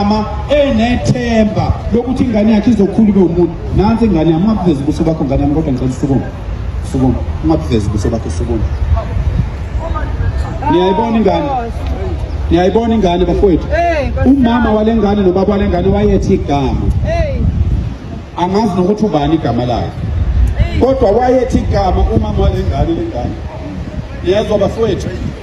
ama enethemba lokuthi ingane yakhe izokhula ibe umuntu nansi ingane yami ungabuvezi ubuso bakho ngane yami kodwa ngicela usukume sukume ungabuvezi ubuso bakho sukume niyayibona ingane niyayibona ingane bafowethu umama wale ngane nobaba wale ngane wayethi igama angazi nokuthi ubani igama lakhe kodwa wayethi igama umama wale ngane le ngane niyezwa bafowethu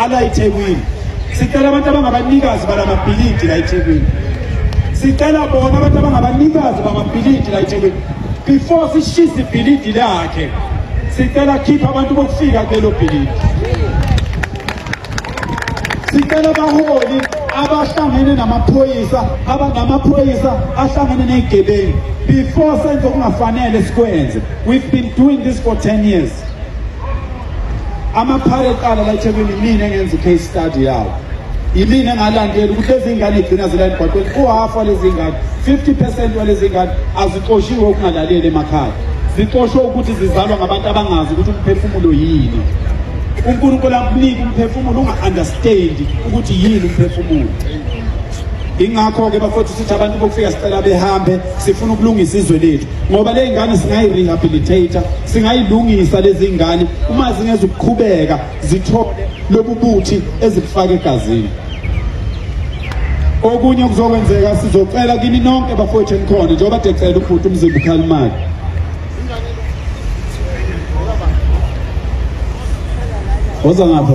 ala iThekwini sicela abantu abangabanikazi balamabhilidi la iThekwini sicela bona abantu abangabanikazi bamabhilidi la iThekwini before sishise ibhilidi lakhe sicela khipha abantu bokufika kulelo bhilidi sicela abaholi abahlangene namaphoyisa abanamaphoyisa ahlangene ney'gebengu before senze okungafanele sikwenze we've been doing this for 10 years amaphara eqala la eThekwini yimina engenza i-case study yawo yimina engalandeli ukuthi lezi ngane igcina zila emgwaqweni uhhafu walezi ngane 50 percent walezi ngane azixoshiwe ukungalaleli emakhaya zixoshwe ukuthi zizalwa ngabantu abangazi ukuthi umphefumulo yini unkulunkulu akunika umphefumulo unga-understandi ukuthi yini umphefumulo ingakho-ke bafowethu sithi abantu bokufika sicela behambe sifuna ukulungisa izwe lethu ngoba le ngane singayi-rehabilitator singayilungisa lezi ngane uma zingezukuqhubeka zithole lobu buthi ezibufake egazini okunye kuzokwenzeka sizocela kini nonke bafowethu enikhona njengoba decela ubhuti umzimba ukhalimali woza ngapha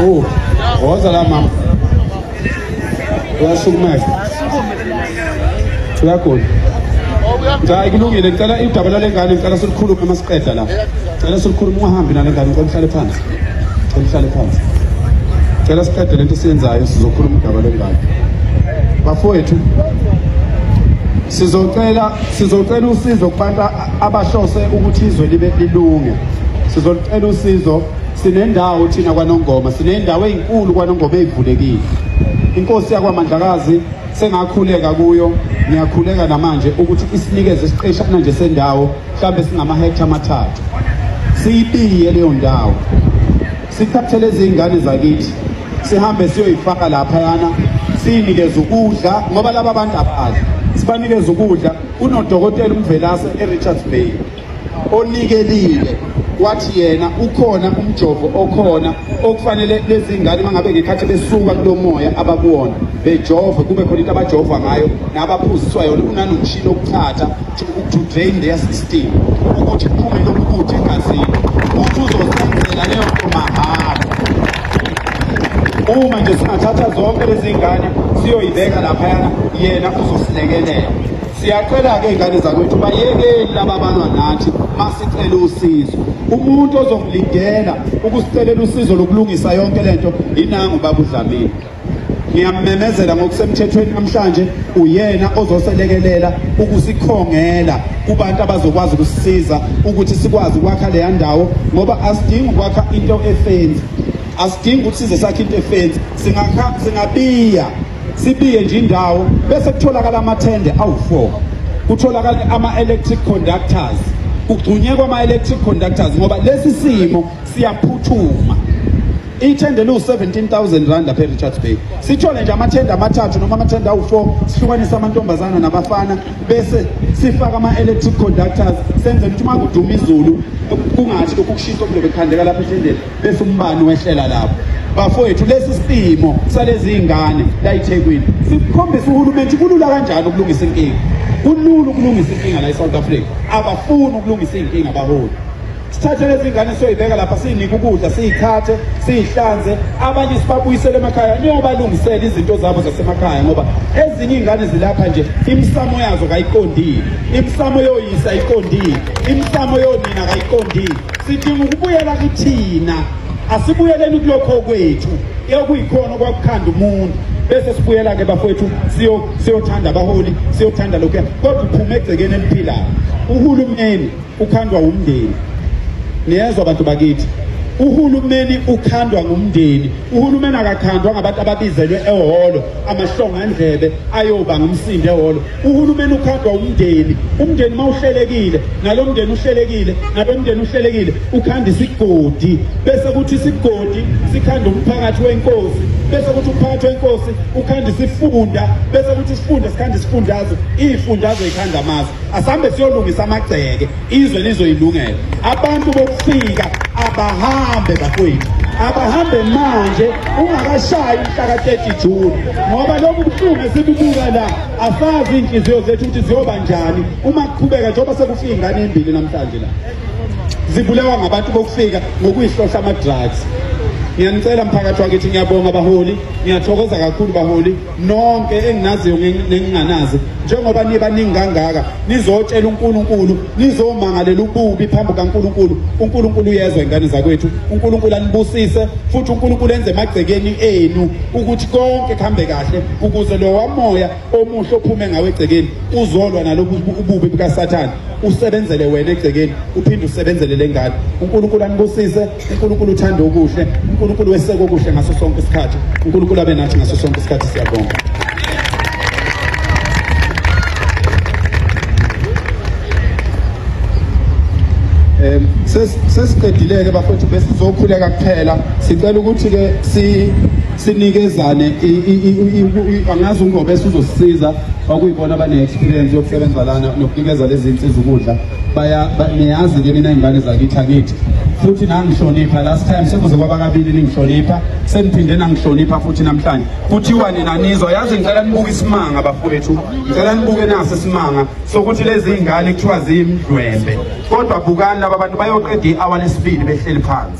Oh, woza la mama. Uyasukumela. Uyagula. Hayi kulungile ngicela idaba lale ngane ngicela silikhulume uma siqeda la. Ngicela silikhulume ungahambi nale ngane ngicela uhlale phansi. Ngicela uhlale phansi. Ngicela siqede lento siyenzayo sizokhuluma udaba lengane. Bafowethu sizocela sizocela usizo kubantu abahlose ukuthi izwe libe lilunge sizolucela usizo sinendawo thina kwanongoma sinendawo ezinkulu kwanongoma ezivulekile inkosi yakwamandlakazi sengakhuleka kuyo ngiyakhuleka namanje ukuthi isinikeze isiqeshana nje sendawo mhlawumbe singama hectare amathathu siyibiye leyo ndawo sithathele izingane zakithi sihambe siyoyifaka lapha yana siyinikeze ukudla ngoba laba bantu abadla sibanikeze ukudla Kunodokotela uMvelase eRichards Bay onikelile wathi yena ukhona umjovo okhona okufanele lezi ngane mangabe ngekhathi besuka kulo moya abakuwona bejove kube khona into abajova ngayo nabaphuziswa yona unanomshini okuthatha to drain their system ukuthi kuphume lokubuthi egazini ukuthi uzosenzela leyo nto mahhala uma nje singathatha zonke lezi ngane siyoyibeka laphayana yena uzosilekelela siyacela-ke iy'ngane zakwethu bayekeli laba balwa nathi masicele usizo umuntu ozomlindela ukusicelela usizo lokulungisa yonke le nto inangu babudlamini ngiyammemezela ngokusemthethweni namhlanje uyena ozoselekelela ukusikhongela kubantu abazokwazi ukusisiza ukuthi sikwazi ukwakha leya ndawo ngoba asidingi ukwakha into efenzi asidingi ukuthi size sakhe into efenzi singabiya sibiye nje indawo bese kutholakala amathende awu-four kutholakale ama-electric conductors kugcunyekwa ama-electric conductors ngoba lesi simo siyaphuthuma ithende liwu-17000 rand lapha e-richards bay sithole nje amathende amathathu noma amathende awu-four sihlukanise amantombazana nabafana bese sifake ama-electric conductors senze ukuthi uma kuduma izulu kungathi lokhu kushisa okulo bekukhandeka lapha ethendeni bese umbani wehlela lapho bafowethu lesi simo salezi ingane layithekwini sikhombisa uhulumeni kulula kanjani ukulungisa inkinga kulula ukulungisa inkinga la e-south africa abafuni ukulungisa iy'nkinga abaholi sithathe lezi ngane siyoyibeka lapha siyinike ukudla siyithathe siyihlanze abanye sibabuyisele emakhaya niyobalungisela izinto zabo zasemakhaya ngoba ezinye iy'ngane zilapha nje imisamo yazo kayiqondile imisamo yoyisa ayiqondile imisamo yonina kayiqondile sidinga ukubuyela kithina asibuyeleni kulokho kwethu ekuyikhona okwakukhanda umuntu bese sibuyela ke bafowethu siyothanda abaholi siyothanda lokhu kodwa uphume egcekeni eliphilayo uhulumeni ukhandwa umndeni niyezwa abantu bakithi uhulumeni ukhandwa ngumndeni uhulumeni akakhandwa ngabantu ababizelwe ehholo amahlongandlebe ayoba ngumsindo ehholo uhulumeni ukhandwa umndeni umndeni uma uhlelekile nalo mndeni uhlelekile nalo mndeni uhlelekile ukhanda isigodi bese kuthi isigodi sikhanda umphakathi wenkosi bese kuthi umphakathi wenkosi ukhanda isifunda bese kuthi isifunda sikhanda isifundazwe iy'fundazwe yikhanda amazwe asambe siyolungisa amagceke izwe lizoyilungela abantu bokufika abahambe bakwethu abahambe manje ungakashayi umhlaka 30 June ngoba lokhu buhlungu esibubuka la asazi inhliziyo zethu ukuthi ziyoba njani uma kuqhubeka njengoba sekufika ingane embili namhlanje la zibulewa ngabantu bokufika ngokuyihlohla ama-drugs ngiyanicela mphakathi wakithi ngiyabonga baholi ngiyathokoza kakhulu baholi nonke enginaziyo nenginganazi njengoba nibaningi kangaka nizotshela uNkulunkulu nizomangalela ububi phambi kaNkulunkulu uNkulunkulu uyezwa ingane zakwethu uNkulunkulu anibusise futhi uNkulunkulu enze emagcekeni enu ukuthi konke kuhambe kahle ukuze lo wamoya omuhle ophume ngawe egcekeni uzolwa nalobu ububi bukaSathane usebenzele wena egcekeni uphinde usebenzele lengane uNkulunkulu anibusise uNkulunkulu uthanda okuhle uNkulunkulu weseka okuhle ngaso sonke isikhathi uNkulunkulu abe nathi ngaso sonke isikhathi siyabonga um sesiqedile-ke bafowethu besizokhuleka kuphela sicela ukuthi-ke sinikezane angazi ungobe esuzosisiza okuyibona abane-experience yokusebenza lana nokunikeza lezi nsiza ukudla niyazi ke mina ingane zakithi akithi futhi nangihlonipha last time sekuze kwaba kabili ningihlonipha seniphinde nangihlonipha futhi namhlanje kuthiwa nina nizwa yazi ngicela nibuke isimanga bafowethu ngicela nibuke naso isimanga sokuthi lezi ngane kuthiwa ziyimdwembe kodwa bukani laba bantu bayoqeda i-hour lesibili behleli phansi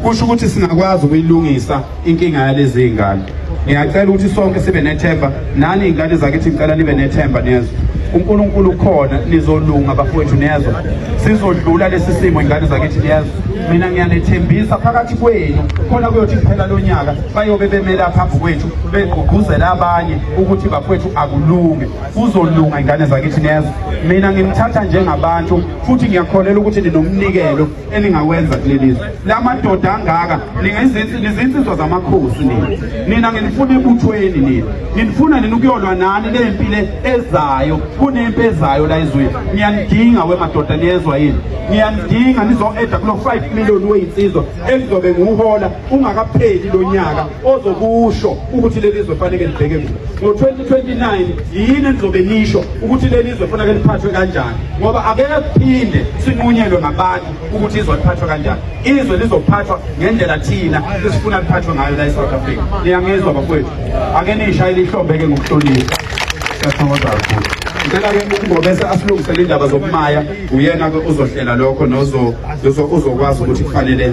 kusho ukuthi singakwazi ukuyilungisa inkinga yalezi y'ngane ngiyacela ukuthi sonke sibe nethemba nani iy'ngane zakithi ngicela nibe nethemba nezwe unkulunkulu ukhona nizolunga bafowethu nezwe sizodlula lesi simo ingane zakithi nezwe mina ngiyanethembisa phakathi kwenu khona kuyothi kuphela lo nyaka bayobe bemela phambi kwethu begqugquzela abanye ukuthi bafowethu akulunge kuzolunga ingane zakithi nezwe mina ngimthatha njengabantu futhi ngiyakholelwa ukuthi ninomnikelo eningawenza kuleli zwe la madoda angaka nizinsizwa zamakhosi nina nina nginifuna ebuthweni nina nginifuna nina ukuyolwa nani le mpi le ezayo kunempi ezayo la ezweni niyanidinga wemadoda niyezwa yini niyanidinga nizo-eda kulo-five million weyinsizwa elizobe ngiwuhola ungakapheli lo nyaka ozokusho ukuthi leli zwe fanele libheke kulo ngo-2029 yini enizobe nisho ukuthi leli zwe fanele liphathwe kanjani ngoba akeke kuphinde sinqunyelwe ngabantu ukuthi izwe liphathwe kanjani izwe lizophathwa ngendlela thina esifuna liphathwe ngayo la e-south africa niyangizwa bakwethu ake niyishayele ihlombeke ngokuhlonipha siyathokoza kakhulu ngicela-ke ukungobese asilungisele indaba zokumaya uyena-ke uzohlela lokho uzokwazi ukuthi kufanele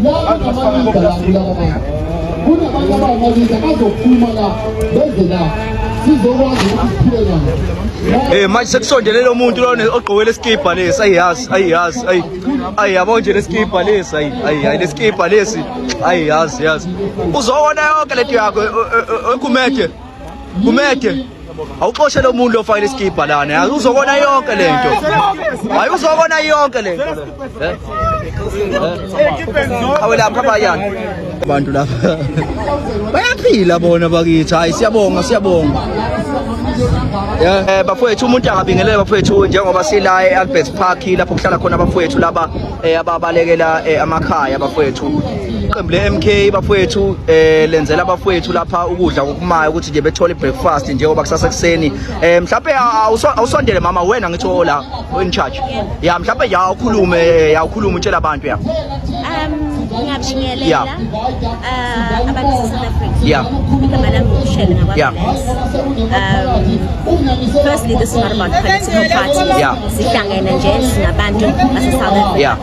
Abantu abaningi la kulaba bantu. Kunabantu abangabiza bazophuma la beze la sizokwazi ukuthi siphile nabo. Eh manje sekusondelele umuntu lona ogqoke lesikibha lesi ayiyazi ayiyazi ayi ayi yabo nje lesikibha lesi ayi ayi ayi lesikibha lesi ayiyazi yazi uzowona yonke lento yakho ekumede kumede awuxoshe lo muntu ofakile isikibha lana yazi uzokona yonke le nto hayi uzokona yonke le nto awe lapha bayani abantu lapha bayaphila bona bakithi hayi siyabonga siyabonga Eh bafowethu umuntu angabingelele bafowethu njengoba sila eAlbert Park lapho kuhlala khona abafowethu laba eh, ababalekela eh, amakhaya bafowethu iqembu le-mk bafowethu eh lenzela abafowethu lapha ukudla kokumayo ukuthi nje bethole breakfast njengoba kusasa kuseni eh mhlawumbe awusondele mama wena ngithi ola oh, in charge ya mhlawumbe ya ukhulume eh, ya ukhulume utshela abantu ya um ngabingelela yeah. uh, abantu South Africa yeah igama lami uShele ngakwa yeah. um, firstly this is not about political party yeah. sihlangene nje singabantu base South Africa yeah.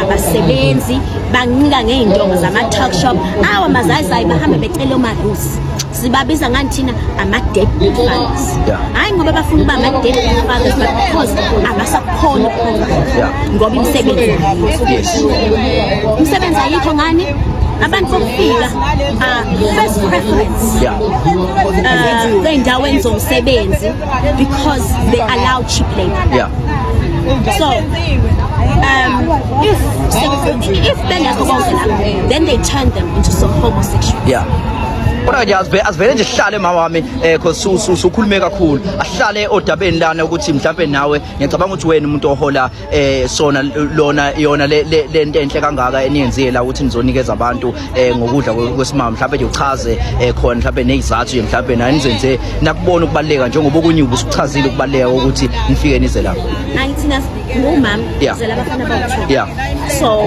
abasebenzi bancika ngey'ndongo zama-talk shop awa mazayizayi bahambe becele omarusi sibabiza ngani thina ama-dead fathers hhayi ngoba bafuna uba ama-dead fathers but because abasakhona ukukhona ngoba imisebenzi imisebenzi ayikho ngani abantu bokufika ah, first preference ah, ey'ndaweni zomsebenzi because they allow cheap labor. Yeah. So, um, if if men are homosexual, then they turn them into some homosexual. Yeah. kodwa nje azivele azivele nje sihlale mama wami eh cause usukhulume kakhulu ahlale odabeni lana ukuthi mhlambe nawe ngiyacabanga ukuthi wena umuntu ohola eh sona lona yona le lento enhle kangaka eniyenzile la ukuthi nizonikeza abantu eh ngokudla kwesimama mhlawumbe nje uchaze eh khona mhlawumbe nezizathu nje mhlawumbe nani nizenze nakubona ukubaleka njengoba okunye ubusuchazile ukubaleka ukuthi nifike nize la angithina ngumama ngizela abafana bawu yeah so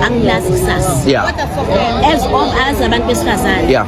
angilazi kusasa yeah as all as abantu besifazane yeah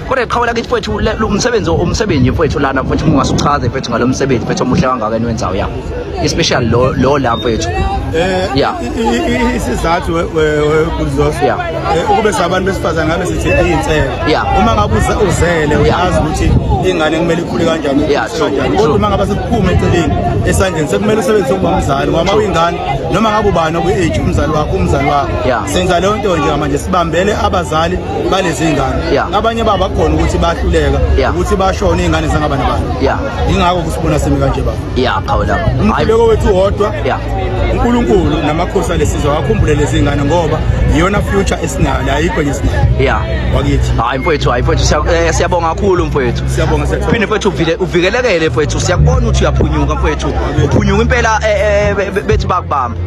kodwa qhawela kithi mfowethu umsebenzi umsebenzi mfowethu lana mfowethu ungase uchaze mfowethu ngalo msebenzi mfowethu omuhle kangaka eniwenzayo ya especially lo lo la mfowethu eh ya isizathu kuzoso eh, eh, ukube sabantu besifazane ngabe sithi insele uma ngabe uzele uyazi ukuthi ingane kumele ikhule kanjani kodwa uma ngabe sekuphuma eceleni esandleni sekumele usebenzise ukuba umzali ngoba uyingane noma ngabe ubani okwi-age umzali wakho umzali wakho senza leyo nto nje manje sibambele abazali balezi ngane yeah. abanye babo bakhona ukuthi bahluleka yeah. ukuthi bashone izingane zangaba nabantu yeah. ingakho kusibona simi kanje baba yeah qhawe lapho umkhuleko wethu wodwa yeah. uNkulunkulu namakhosi alesizwe wakhumbule lezi ngane ngoba iyona future esinayo ayikho nje esinayo yeah wakithi hayi mfowethu hayi mfowethu eh, siyabonga kakhulu mfowethu siyabonga siyabonga phinde mfowethu uvile uvikelekele mfowethu siyakubona ukuthi uyaphunyuka mfowethu uphunyuka impela eh, eh, bethi bakubamba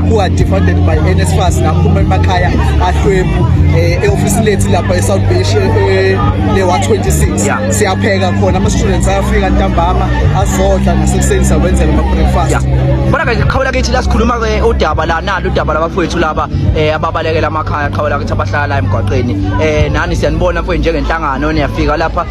who are defunded by NSFAS naphuma emakhaya ahlwempu eh, e-ofisi lethu lapha e-south beach eh, eh, lewa-26 siyapheka khona ama-students ayafika ntambama azodla nasekuseni sawenzela ama-breakfast bona ke qhawula kithi la sikhuluma-ke udaba la nalo udaba labafowethu laba um ababalekela amakhaya qhawula kithi abahlala la emgwaqeni um nani siyanibona mfowethu njengenhlangano niyafika lapha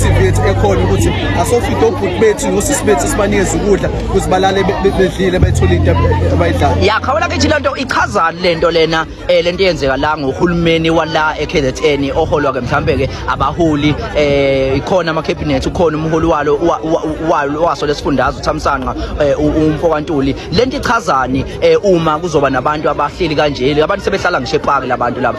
TV yethu ekhona ukuthi asofide obhuti bethu nosisi bethu sibanikeze ukudla ukuthi balale bedlile bethole into abayidlayo ya khawula kithi lento ichazani lento lena eh lento yenzeka la ngohulumeni wala eKZN oholwa ke mhlambe ke abaholi eh ikhona ama cabinet ukhona umholi walo walo waso lesifundazwe uThamsanqa eh, umfo kaNtuli lento ichazani eh, uma kuzoba nabantu abahleli kanje abantu sebehlala ngisho epaki labantu laba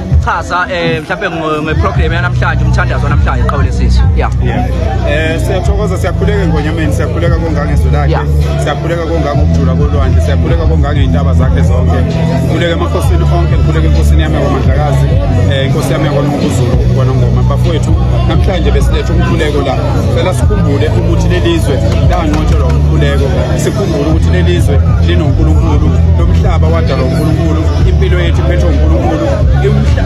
chaza eh mhlawumbe ngeprogram yanamhlanje umthandazo namhlanje qhawe lesizwe yeah eh siyathokoza siyakhuleka ngonyameni siyakhuleka kongange izwi lakhe siyakhuleka kongange ukujula kolwandle siyakhuleka kongange izintaba zakhe zonke khuleka emakhosini onke khuleka enkosini yami kwamandlakazi eh inkosi yami yakwanonguzulu kwanongoma bafowethu namhlanje besilethe umkhuleko la cela sikhumbule ukuthi lelizwe lanqotshelwa umkhuleko sikhumbule ukuthi leli zwe linonkulunkulu lomhlaba wadalwa unkulunkulu impilo yethu iphethwe unkulunkulu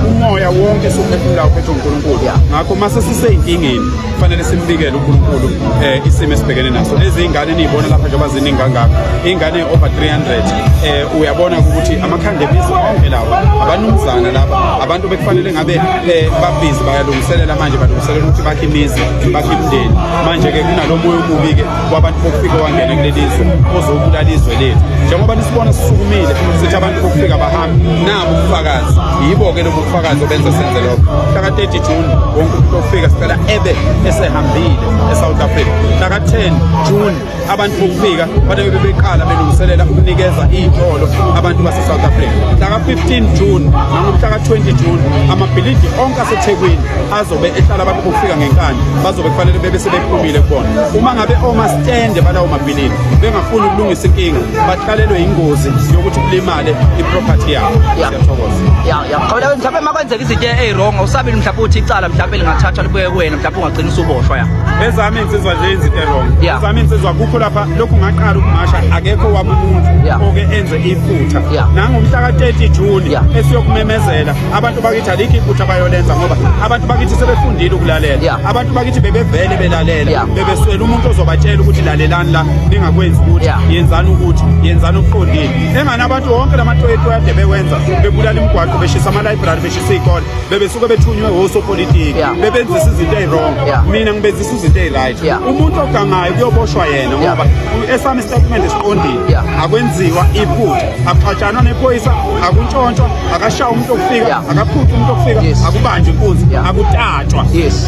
umoya wonke siwuphefumulayo uphethwe unkulunkulu ngakho uma sesiseyinkingeni kufanele simbikele unkulunkulu um isimo esibhekene naso lezi iy'ngane niyibona lapha njengoba ziningi kangaka iy'ngane over 300 um eh, uyabona ukuthi amakhanda ebizo onke lawa abanumzana laba abantu bekufanele ngabe eh, babhizi bayalungiselela manje balungiselela ukuthi bakhe imizi bakhe imndeni manje-ke kunalo moya omubi-ke kwabantu bokufika wangena kuleli zwe ozobulala izwe lethu njengoba nisibona sisukumile sithi abantu bokufika bahambe nabo ubufakazi yibo-ke lobu bufakazi obenza senze lokho mhlaka 30 june wonke umuntu ofika sicela ebe esehambile esouth africa mhlaka 10 june abantu bokufika babe bebeqala belungiselela ukunikeza iy'tolo abantu basesouth africa mhlaka 15 june nangomhlaka 20 june amabhilidi onke asethekwini azobe ehlala abantu bokufika ngenkani bazobe kufanele bebe sebephumile kubona uma ngabe omastende balawo mabhilini bengafuni ukulungisa inkinga baqalelwe yingozi yokuthi kulimale iproperty yabo siyathokoza ya ya khona mhlawumbe makwenzeka izinto eziwrong usabile mhlawumbe uthi icala mhlawumbe lingathathwa libuye kuwena mhlawumbe ungagcina usuboshwa ya ezami insizwa nje izinto eziwrong ezami insizwa kukho lapha lokhu ngaqala ukumasha akekho wabumuntu oke enze iphutha nangomhla ka-30 June esiyokumemezela abantu bakithi alikho iphutha abayolenza ngoba abantu bakithi sebefundile ukulalela yeah. abantu bakithi bebevele belalela yeah. bebeswela umuntu ozobatshela ukuthi lalelani la ningakwenzi ukuthi yeah. yenzani ukuthi yenzani okuqondile engani abantu wonke lamatoyethu ade bewenza bebulala imigwaqo beshisa amalibrary beshisa iy'kole bebesuke bethunywe wosopolitiki yeah. bebenzisa izinto eyi-wrong yeah. mina ngibenzisa izinto eyi-right yeah. umuntu ogangayo kuyoboshwa yena ngoba yeah. esami isitatimende siqondile yeah. akwenziwa iphutha akuxatshanwa nephoyisa akuntshontshwa akashaya umuntu okufika akaphuthi umuntu okufika akubanjwe inkunzi akutatshwa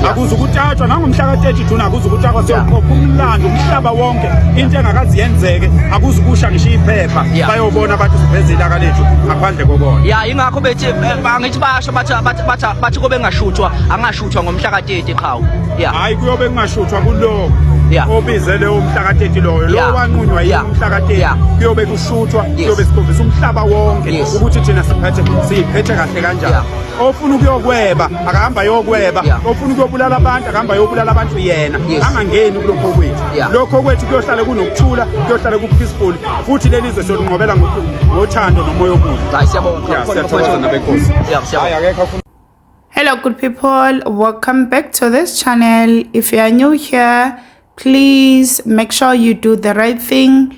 akuze ukutatshwa nangomhla ka-30 june akuze ukutakwa seyoqopha umlando umhlaba wonke into engakazi yenzeke akuze ukusha ngisho iphepha bayobona abantu siveze ilaka lethu ngaphandle kokona ya ingakho bethi eh, angithi basho bathi kobe ngashuthwa angashuthwa ngomhla ka-30 qhawu hhayi kuyobe kungashuthwa kuloko obizele umhla ka-30 loyo lo wanqunywa yini umhla ka-30 kuyobe shuthwa kuyobe sikhombisa umhlaba wonke ukuthi thina siphethe siyiphethe kahle kanjani ofuna ukuyokweba akahamba ayokweba ofuna ukuyobulala abantu akahamba ayobulala abantu yena angangeni kulokho kwethu lokho kwethu kuyohlale kunokuthula kuyohlale ku-peaceful futhi leli zwe solunqobela ngothando nomoya omuhle hello good people welcome back to this channel if you are new here please make sure you do the right thing